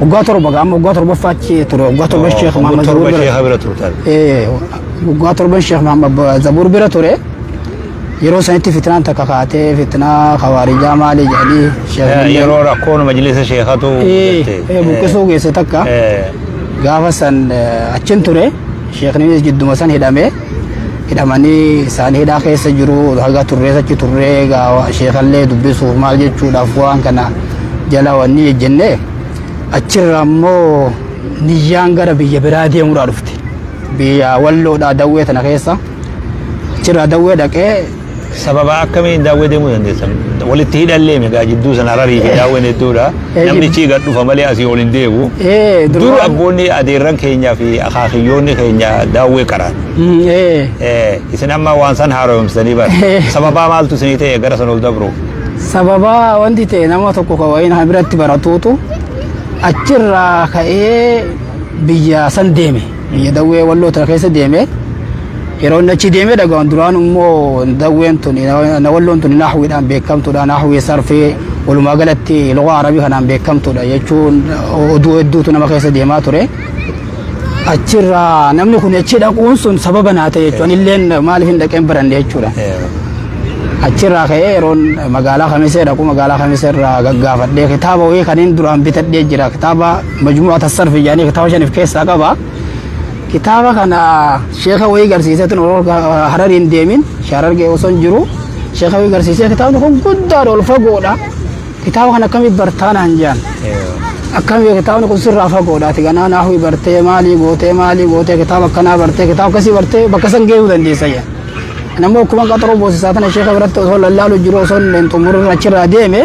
Waggaa torba gaama waggaa torbaffaa achi ture waggaa torba Sheekh Waggaa Mahammad Zabuur torba bira sheeha bira turtan. Eh, waggaa torban Sheekh Mahammad Ba- Zabuur bira ture yeroo sanitti fitnaan takka kaatee fitnaa khawaarijaa maali jedhanii Sheekh Eh, Mahammad- Yeroo rakkoon majlisa sheekatu Eh, mudate. eh, buqqisuu geesse takka Eh, gaafa san eh, achin ture Sheekh Nimiis jidduma san hidhamee hidhamanii isaan hidhaa keessa jiru haga turrees achi turree egaa sheekallee dubbisuuf maal jechuudhaaf waan kana jala wanni ejjenne achirra ammoo niyyaan gara biyya biraa deemuudhaa dhufte biyya walloodhaa dawwee tana keessa achirraa dawwee dhaqee Sababa akkamiin daawwee deemuu dandeessan? Walitti hidhallee megaa jidduu sana hararii fi daawween hedduudha. Eh, Namtichi gad dhufa malee asii ol hin deemu. Ee, Dur duraan- abboonni adeerran keenyaa fi akaakiyyoonni keenya daawwee qaraan. Mm, ee. Eh, Isin amma waan san haaromsanii bara. Eh. Sababaa maaltu isinii ta'e gara san ol dabruuf? sababa wanti ta'e nama tokko ka wayiin ha biratti baratuutu achirraa ka'ee biyya san deeme. Biyya dawwee walloo tana keessa deeme yeroo inni achi deemee dhagahan duraan immoo dawween tun na walloon tun naahwiidhaan beekamtuudha naahwii sarfee walumaa galatti loqaa arabii kanaan beekamtuudha jechuun oduu hedduutu nama keessa deemaa ture. Achirraa namni kun achi dhaquun sun sababa naa ta'e jechuun illeen maaliif hin dhaqeen baranne jechuudha. Achirraa ka'ee yeroon magaalaa kamisee dhaqu magaalaa kamisee irraa gaggaafadhee kitaaba wayii kan hin duraan bitadhee jira kitaaba Majmu'at as-Sarf jedhanii kitaaba shan of keessaa qaba. Kitaaba kana sheeka wayii garsiiseetu hararii hin deemin shaarargee osoo hin jiru sheeka wayii garsiisee kitaabni kun guddaadha ol fagoodha. Kitaaba kana akkamitti bartaa naan jedhan. Akkamitti kitaabni kun sirraa fagoodha ati ganaa naafii bartee maalii gootee maalii gootee kitaaba akkanaa bartee kitaaba akkasii bartee bakka san geessuu dandeessa jedhan. Namni akkuma qaxaroo boosisaa tana sheeka biratti osoo lallaalu jiru osoo hin xumurin achirraa deeme.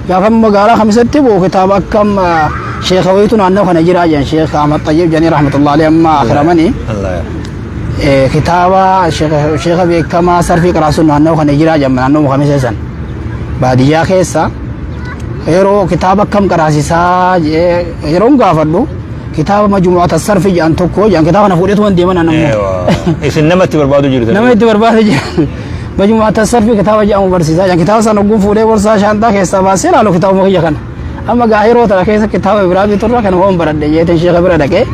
Gaafa magaalaa kamisetti boo kitaaba akka amma sheeka wayitu naannoo kana jira jedhan sheeka Ahmad Xayyib jedhanii rahmatullahi alayhi amma akhiramanii Allah. Eh, kitaaba sheeka sheeka beekamaa sarfii qaraasuun naannoo kana jira jedhan naannoo kamisee san baadiyyaa keessa yeroo kitaaba akkam qaraasisaa jedhee yeroon gaafadhu kitaaba majumu'ata sarfii jedhan tokko jedhan kitaaba kana fuudheetu waan deeman anammoo Eewaa. Isin namatti barbaadu jirtan. nama itti barbaade jedhan Majmuu'at Asarfi kitaaba jedhamu barsiisaa jiran. Kitaaba sana ogguun fuudhee borsaa shaanxaa keessaa baasee ilaalu kitaabuma kiyya kana. Amma gaa yeroo tana keessa kitaaba biraa biturra kana hoon baradhe jeeteen sheeka bira dhaqee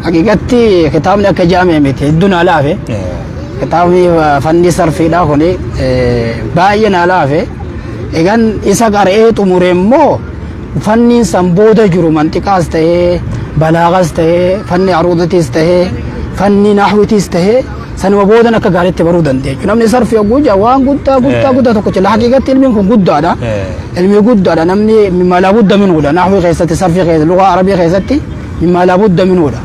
haqiiqatti kitaabni akka jaamee miti hedduu naa laafe. Kitaabni fanni sarfiidhaa kun baay'ee naa laafe. Egan isa qara'ee xumure immoo fanniin san booda jiru manxiqaas ta'ee balaagas ta'ee fanni aruudatis ta'ee fanni naahwitis ta'ee Sanuma boodan akka gaariitti baruu dandeenya jechuudha. Namni sarfi yogguu jaa waan guddaa guddaa Eh. guddaa tokko jala haqiiqatti ilmiin kun guddaadha. Eh. Ilmi guddaadha namni mimaalaa budda minuudha. Naahwii keessatti sarfi keessatti lugaa arabii keessatti mimaalaa budda minuudha.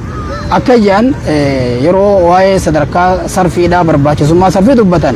Akka ijaan eh, yeroo waa'ee sadarkaa sarfiidhaa barbaachisummaa sarfii dubbatan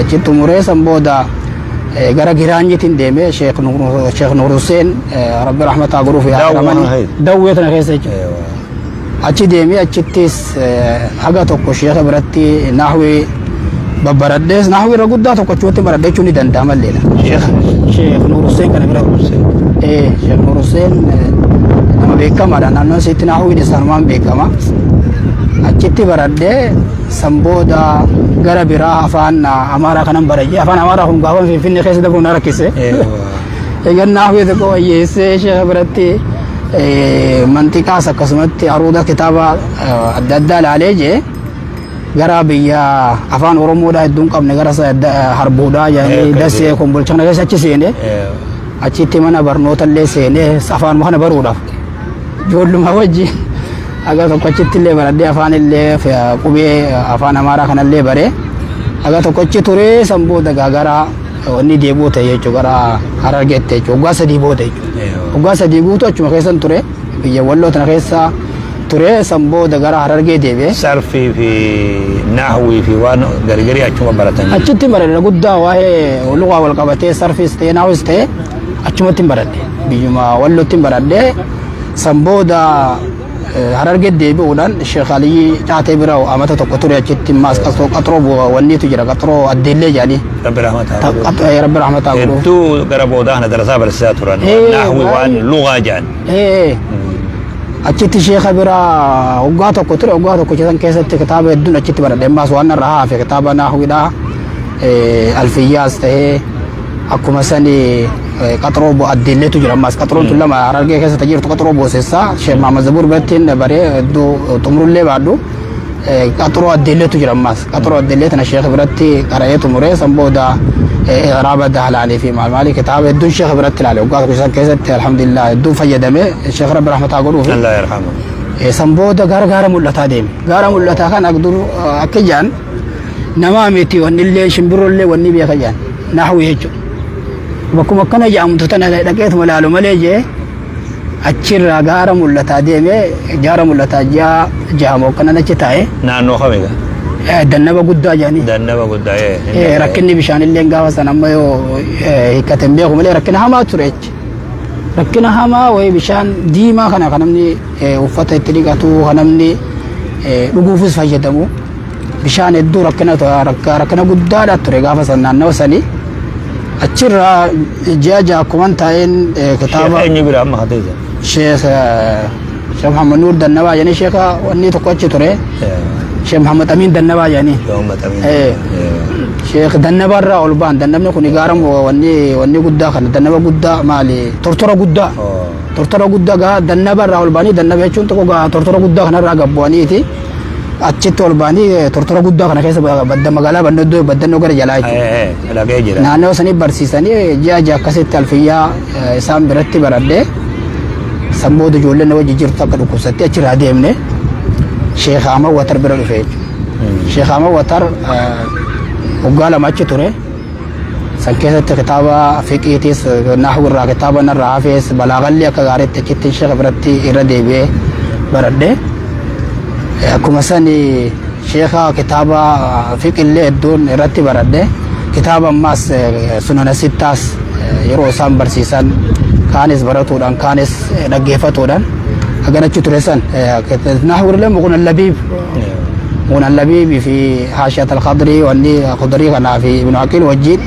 Achi xumuree san booda gara Giraanyitiin deemee Sheekh Nuur Huseen Rabbi Rahmataa godhuuf yaadaramanii dawwee tana keessa jechuudha. Achi deemee achittis haga tokko sheekha biratti naahwii babbaradhees naahwii irra guddaa tokko achuutti baradhe jechuun ni danda'ama illee. Sheekh Nuur Huseen kana bira Sheekh Nuur Huseen nama beekamaadha naannoo isiitti naahwiin isaanumaan beekama. Achitti baradhee San booda gara biraa afaan Amaaraa kanan barayye. Afaan Amaaraa kun gaafan Finfinnee keessa dabru na rakkise. Egaa naaf yoo tokko wayyeessee sheeka biratti mantiqaas akkasumatti aruuda kitaaba adda addaa ilaalee jee gara biyya afaan Oromoodhaa hedduun qabne gara harbuudhaa jedhanii dasee kombolchana keessa achi seene. Achitti mana barnoota illee seenee afaanuma kana baruudhaaf ijoolluma wajji haga tokko achitti illee baradhee afaan illee qubee afaan amaaraa kana illee baree haga tokko achi turee san booda gaagara wanni deebi'uu ta'e jechuudha gara harargeetti jechuudha waggaa sadii booda jechuudha waggaa sadii guutuu achuma keessan ture. biyya walloo tana keessa ture san booda gara harargee deebi'e. sarfii fi naahwii fi waan gargarii achuma baratan Achitti baradhe guddaa waa'ee lugaa wal qabatee sarfiis ta'ee naawis ta'ee achumatti hin baradhe biyyuma wallootti hin baradhe san booda eh, harargee deebi'uudhaan sheekh aliyyi caatee bira amata tokko ture achitti maas qaxroo qaxroo bu'a wanniitu jira qaxroo addeellee jedhanii rabbi rahmataa Ta- godhuuf qab- eh, rabbi rahmataa godhuuf. hedduu gara boodaa kana darasaa barsiisaa turan Eh, naahwi waan baay'ee. lugaa jedhan Ee, achitti sheeka bira waggaa tokko ture waggaa tokko keessan keessatti kitaaba hedduun achitti baradhe ammaas waan irraa hafe kitaaba naahwidha alfiyyaas ta'ee akkuma sani eh, qaxroo bo addiilleetu jira ammaas qaxroon tun lama harargee keessa jirtu qaxroo boosessaa sheek maamad zabuur birattiin baree hedduu xumurullee baadhu qaxuroo addeelleetu jira ammaas qaxuroo addeellee tana sheekh biratti qara'ee xumuree san booda iraaba dahlaalii fi maal maalii kitaaba hedduun sheekh biratti ilaale waggaa tokko isaan keessatti alhamdulillah hedduun fayyadame sheekh rabbi rahmataa godhuufi Allah yarhamu. san booda gara gaara mul'ataa deeme gaara mul'ataa kan agdur akka jaan namaa miti wanni illee shimbirroo illee wanni beeka jaan naahuu jechuudha bakkuma akkana jedhamtu tana dhaqeetuma ilaalu malee jee Achirraa gaara mul'ataa deemee gaara mul'ataa ji'a jaha moo kanan achi taa'e Naannoo kamiga? eh, dannaba guddaa jedhanii Dannaba guddaa. ee, hin Eh, danda'e. rakkinni bishaanillee gaafa san amma yoo eh, hiikkate hin beeku malee rakkina hamaa ture jechi. Rakkina hamaa wayii bishaan diimaa kana kan namni eh, uffata itti dhiqatu kan namni eh, dhuguufis fayyadamu. Bishaan hedduu rakkina rakkina guddaadha ture gaafa san naannawa sanii. Achirraa ji'a ja'a akkuman taa'een kitaaba. Eenyu bira amma haa ta'e. Sheekh Sheekh Muhammad Nuur Dannabaa jedhanii sheekha wanni tokko achi ture. Sheekh Muhammad Amiin Dannabaa jedhanii. Sheekh Dannabaa irraa ol ba'an dannabni kun gaara wanni wanni guddaa kana dannaba guddaa maali tortora guddaa. Tortora guddaa gaa dannaba irraa ol ba'anii dannaba jechuun tokko gaa tortora guddaa kanarraa gabbu'aniiti. achitti ol ba'anii eh, tortora guddaa kana keessa ba- badda magaalaa bandoddoo baddannoo gara jalaa jechuudha. Eh, eh, Dhaga'ee jira. naannoo sanii barsiisanii ji'a ji'a akkasitti alfiyyaa eh, isaan biratti baradhee san booda ijoolleen na wajji jirtu akka dhukkubsattee achirraa deemne sheekh Ahmad Watar bira dhufe jechuudha. Sheekh Ahmad Watar eh, waggaa lama achi ture San keessatti kitaaba fiqiitiis naahuu irraa kitaaba narraa hafees balaagallee akka gaariitti achitti sheeka biratti irra deebi'ee baradhe. Akkuma sani sheeka kitaaba fiqillee hedduun irratti baradhe. Kitaaba ammaas sunana sittaas yeroo isaan barsiisan kaanis baratuudhaan kaanis dhaggeeffatuudhaan akkanachi ture san naahuu irra muqnan labiib Munan Labiibi fi Haashiyat al-Khadrii wanni Khudrii kanaa fi Ibnu Aqiil wajjiin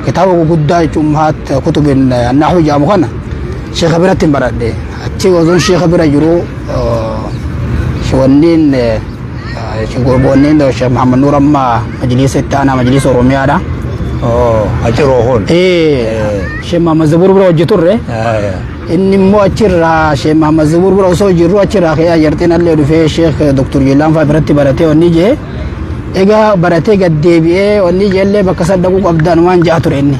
kitaaba guguddaa jechuun Ummahaat Kutubin Nahwi jedhamu kana sheekha biratti hin baradhe. Achi osoon sheekha bira jiru wanniin wanniin Sheekh Muhammad Nuur amma majliisa itti aanaa majliisa Oromiyaadha. Achiroo kun. Ee Sheekh Muhammad Zabuur bira hojjeturre. Inni immoo achirraa Sheekh Mahammad Zubuur bira osoo jirru achirraa ka'ee Ayyarxeen allee dhufee Sheekh Dr. Jeellaan fa'aa biratti baratee wanni jee egaa baratee gad deebi'ee wanni jeellee bakka san dhaquu qabda anumaan ja'a ture inni.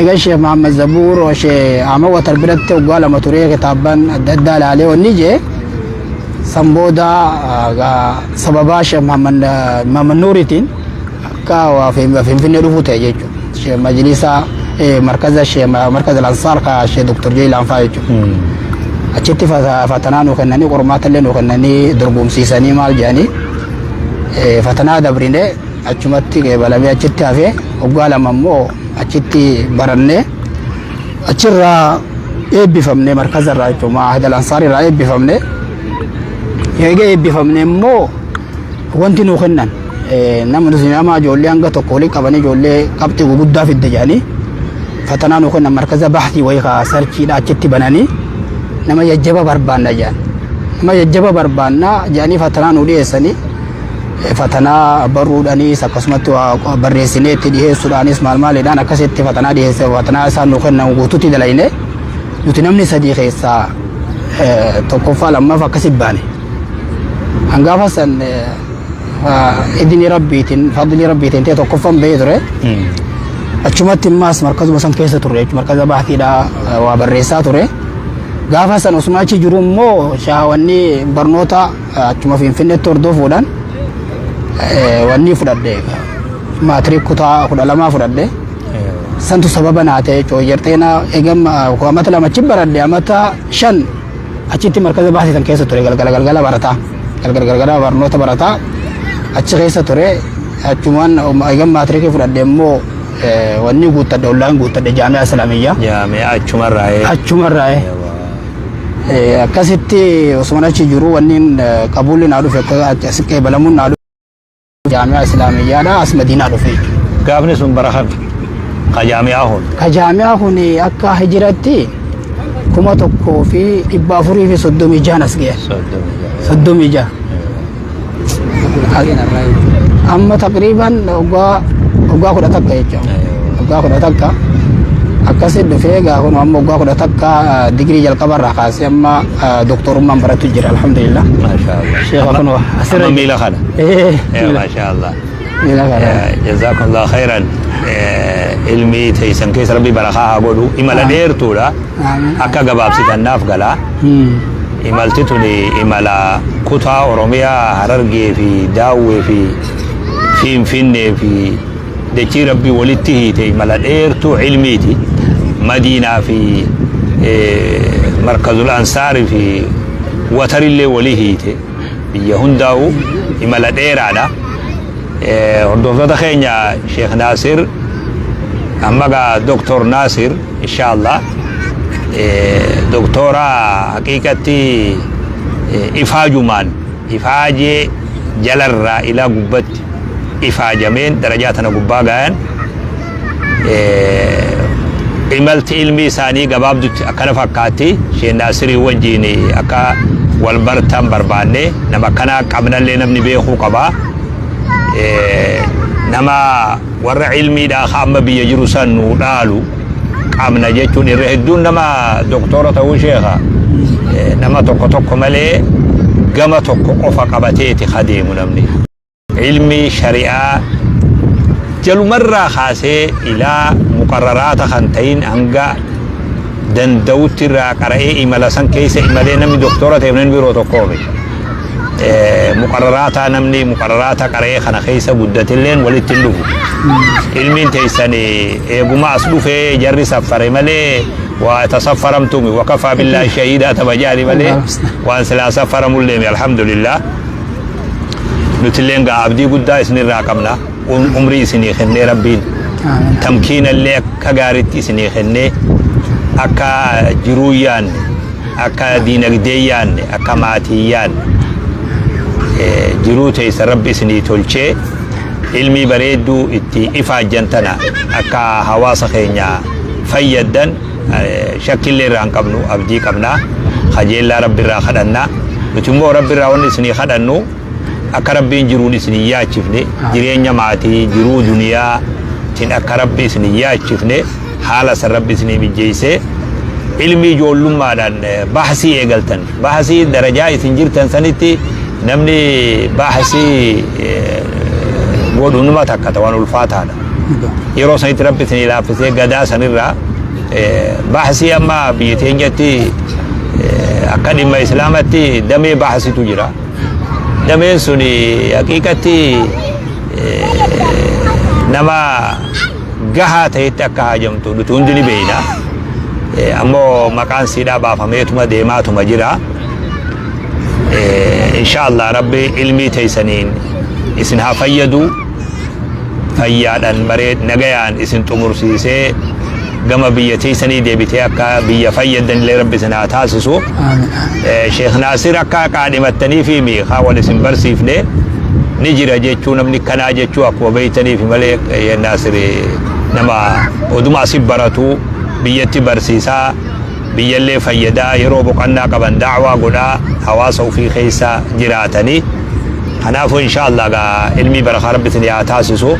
Egaa Sheekh Mahammad Zubuur Sheekh Ahmad Watar biratti waggaa lama turee kitaabban adda addaa ilaalee wanni jee san booda sababaa Sheekh Mahammad Nuuritiin Kaawaa fi Finfinnee dhufuu ta'e jechuudha. Majlisa markaza markaza Lansaar ka Shee Doktor Jeelaan fa'aa jechuudha. Achitti fatanaa nu kennanii qormaata illee nu kennanii dorgomsiisanii maal jedhanii fatanaa dabrine achumatti qeebalamee achitti hafee waggaa lama immoo achitti barannee achirraa eebbifamne markaza irraa jechuudha. Maahida Lansaar irraa eebbifamne. Eega eebbifamne immoo Wanti nuu kennan nama nama ijoollee hanga tokko waliin qabanii ijoollee qabxii guguddaa fidde jedhanii fatanaa nuu kennan markaza baasii wayii kaa sarchiidha achitti bananii nama jajjaba barbaanna jedhan. Nama jajjaba barbaanna jedhanii fatanaa nuu dhiyeessanii fatanaa barruudhaanis akkasumatti waa barreessinee itti dhiyeessuudhaanis maal maalidhaan akkasitti fatanaa dhiyeesse fatanaa isaan nuu kennan guutuutti dalayne nuti namni sadii keessaa tokkoffaa lammaaf akkasi baane. Kan gaafa san idini rabbiitiin fadlii rabbiitiin ta'e tokkoffan ba'ee ture. Achumatti immaas markazuma san keessa ture jechuudha markaza baatiidhaa waa barreessaa ture. Gaafa san osuma achi jiru immoo shaawanni barnoota achuma finfinneetti hordofuudhaan wanni fudhadhe maatirik kutaa kudha lamaa fudhadhe. Santu sababa naa ta'e jechuudha. Yerxeena eegama amata lamachi baradhe amata shan Achitti markaza baasii san keessa ture galgala galgala barataa galgala galgala barnoota barataa achi keessa ture achumaan eegan maatirikii fudhadhe immoo wanni guuttadhe ollaan guuttadhe jaami'a islaamiyyaa. Jaami'a achumarraa ee. Achumarraa ee. Akkasitti osuma achi jiru wanni qabuulli naa dhufe akka asiqqee balamuun naa dhufe. Jaamiyaa Islaamiyyaadhaa as Madiinaa dhufe jechuudha. Gaafni sun bara kami? Ka jaami'aa kun. Ka jaamiyaa kun akka hijiratti kuma tokkoo fi dhibba afurii fi soddomii jahan as ga'e. Soddomii jaha. Amma taqriiban waggaa waggaa kudha takka jechuudha. Waggaa kudha takka. Akkasi dhufee egaa kun amma waggaa kudha takka digirii jalqabarraa kaasee amma doktorummaan baratu jira alhamdulillah. Maashaa Allah. Sheekha kun Asirra Amma miila kana. Eh, Eh, Masha Allah. miila kana. Eh, Jazakumullah khairan. Eh, Ilmi teessan keessa rabbi barakaa haa godhu. Imala Amiin. dheertuudha. Amiin. Akka gabaabsitan naaf galaa. Hmm. Imalti tuni imala kutaa Oromiyaa Harargee fi Daawwee fi Finfinnee fi dachii rabbi walitti hiite imala dheertuu ilmiiti. Madiinaa fi eh, Markazul Ansaarii fi Watarillee walii hiite. biyya hundaa'u imala dheeraadha. Hordoftoota keenya Sheekh Naasir amma gaa Doktor Naasir inshaallah doktora haqiiqatti ifaajumaan ifaajee jalarraa ilaa gubbatti ifaajameen darajaa tana gubbaa gaayan imalti ilmi isaanii gabaabdutti akkana fakkaatti isheen naasirii wajjiin akka wal bartan barbaanne nama akkanaa qabnallee namni beekuu qaba nama warra ilmiidhaa ka amma biyya jiru san nu dhaalu qabna jechuun irra hedduun nama doktora ta'uu sheeka nama tokko tokko malee gama tokko qofa qabateeti ka deemu namni. ilmi shari'aa jalumarraa kaasee ilaa muqarraraata kan ta'in hanga danda'utti irraa qara'ee imala san keessa imalee namni doktora ta'e namni biroo tokkoo miti. Muqarraraata namni muqarraraata qara'ee kana keessa guddatilleen walitti hin dhufu. Ilmiin teessan eeguma as dhufee jarri saffare malee waa tasaffaramtuumi wakafaa billaa shahiidaa taba jaali malee waan silaa saffaramullee alhamdulillah. nutilleen gaa abdii guddaa isinirraa qabna Um- umrii isinii kennee rabbiin tamkiinallee akka gaariitti isinii kennee akka jiruu yaanne akka diinagdee yaanne akka maatii yaanne eh, jiruu teessa rabbi isinii tolchee ilmii bareedduu itti ifaajjan tana akka hawaasa keenya fayyaddan shakkillee irraa hin qabnu abdii qabna kajeellaa rabbi irraa kadhanna nuti immoo rabbi irraa wanni isinii kadhannu akka rabbiin jiruun isin hin yaachifne jireenya maatii jiruu duniyaa tin akka rabbi isin hin yaachifne haala san rabbi isinii mijjeessee ilmi ijoollummaadhaan bahsii eegaltan Baahasii darajaa isin jirtan sanitti namni baahasii godhu numa takka ta'an ulfaataadha. Yeroo sanitti rabbi isin ilaaffisee gadaa sanirraa baahasii amma biyya teenyatti akka dhimma islaamatti damee baahasitu jira. Dameen sun haqiiqatti nama gahaa ta'etti akka haajamtu nuti hundi ni beeyna. Eh, Ammoo maqaan siidhaa baafameetuma deemaatuma jira. Eh, Inshaallah rabbi ilmii teeysaniin isin haa fayyadu. Fayyaadhaan maree nagayaan isin xumursiisee gama biyya teeysanii deebitee akka biyya fayyadan illee rabbi isin haa taasisu. Aamin. Eh, Sheekh Naasir akka qaadhimattanii fi miikaa wal isin barsiifne ni jira jechuu namni kanaa jechuu akkuma beeytaniif malee Eeyyee Naasiri nama oduma asi baratu biyyatti barsiisaa biyyallee fayyadaa yeroo boqannaa qaban daawaa godhaa hawaasa ofii keessa jiraatanii kanaafuu inshaallah gaa ilmii barakaa rabbi isin yaa taasisu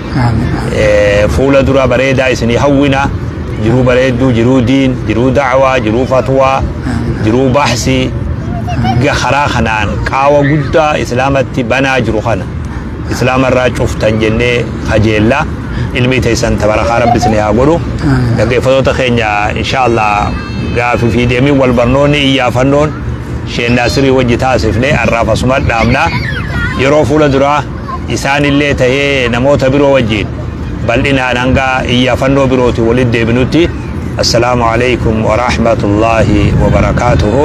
Eh, fuula dura bareedaa isinii hawwina jiruu bareedduu jiruu diin jiruu daawaa jiruu fatwaa jiruu baahsii ga karaa kanaan qaawa guddaa islaamatti banaa jiru kana islaama irraa cuftan jennee kajeella ilmii teessan tabarakaa rabbi isin haa godhu dhaggeeffatoota keenya inshaallah gaafi fi deemiin wal barnoonni iyyaafannoon sheennaa sirii wajji taasifne har'aaf asuma dhaabna yeroo fuula duraa isaanillee tahee namoota biroo wajjiin bal'inaan hanga iyyaafannoo birootiin walitti deebinutti assalaamu alaikum warahmatullaahi wabarakaatuhu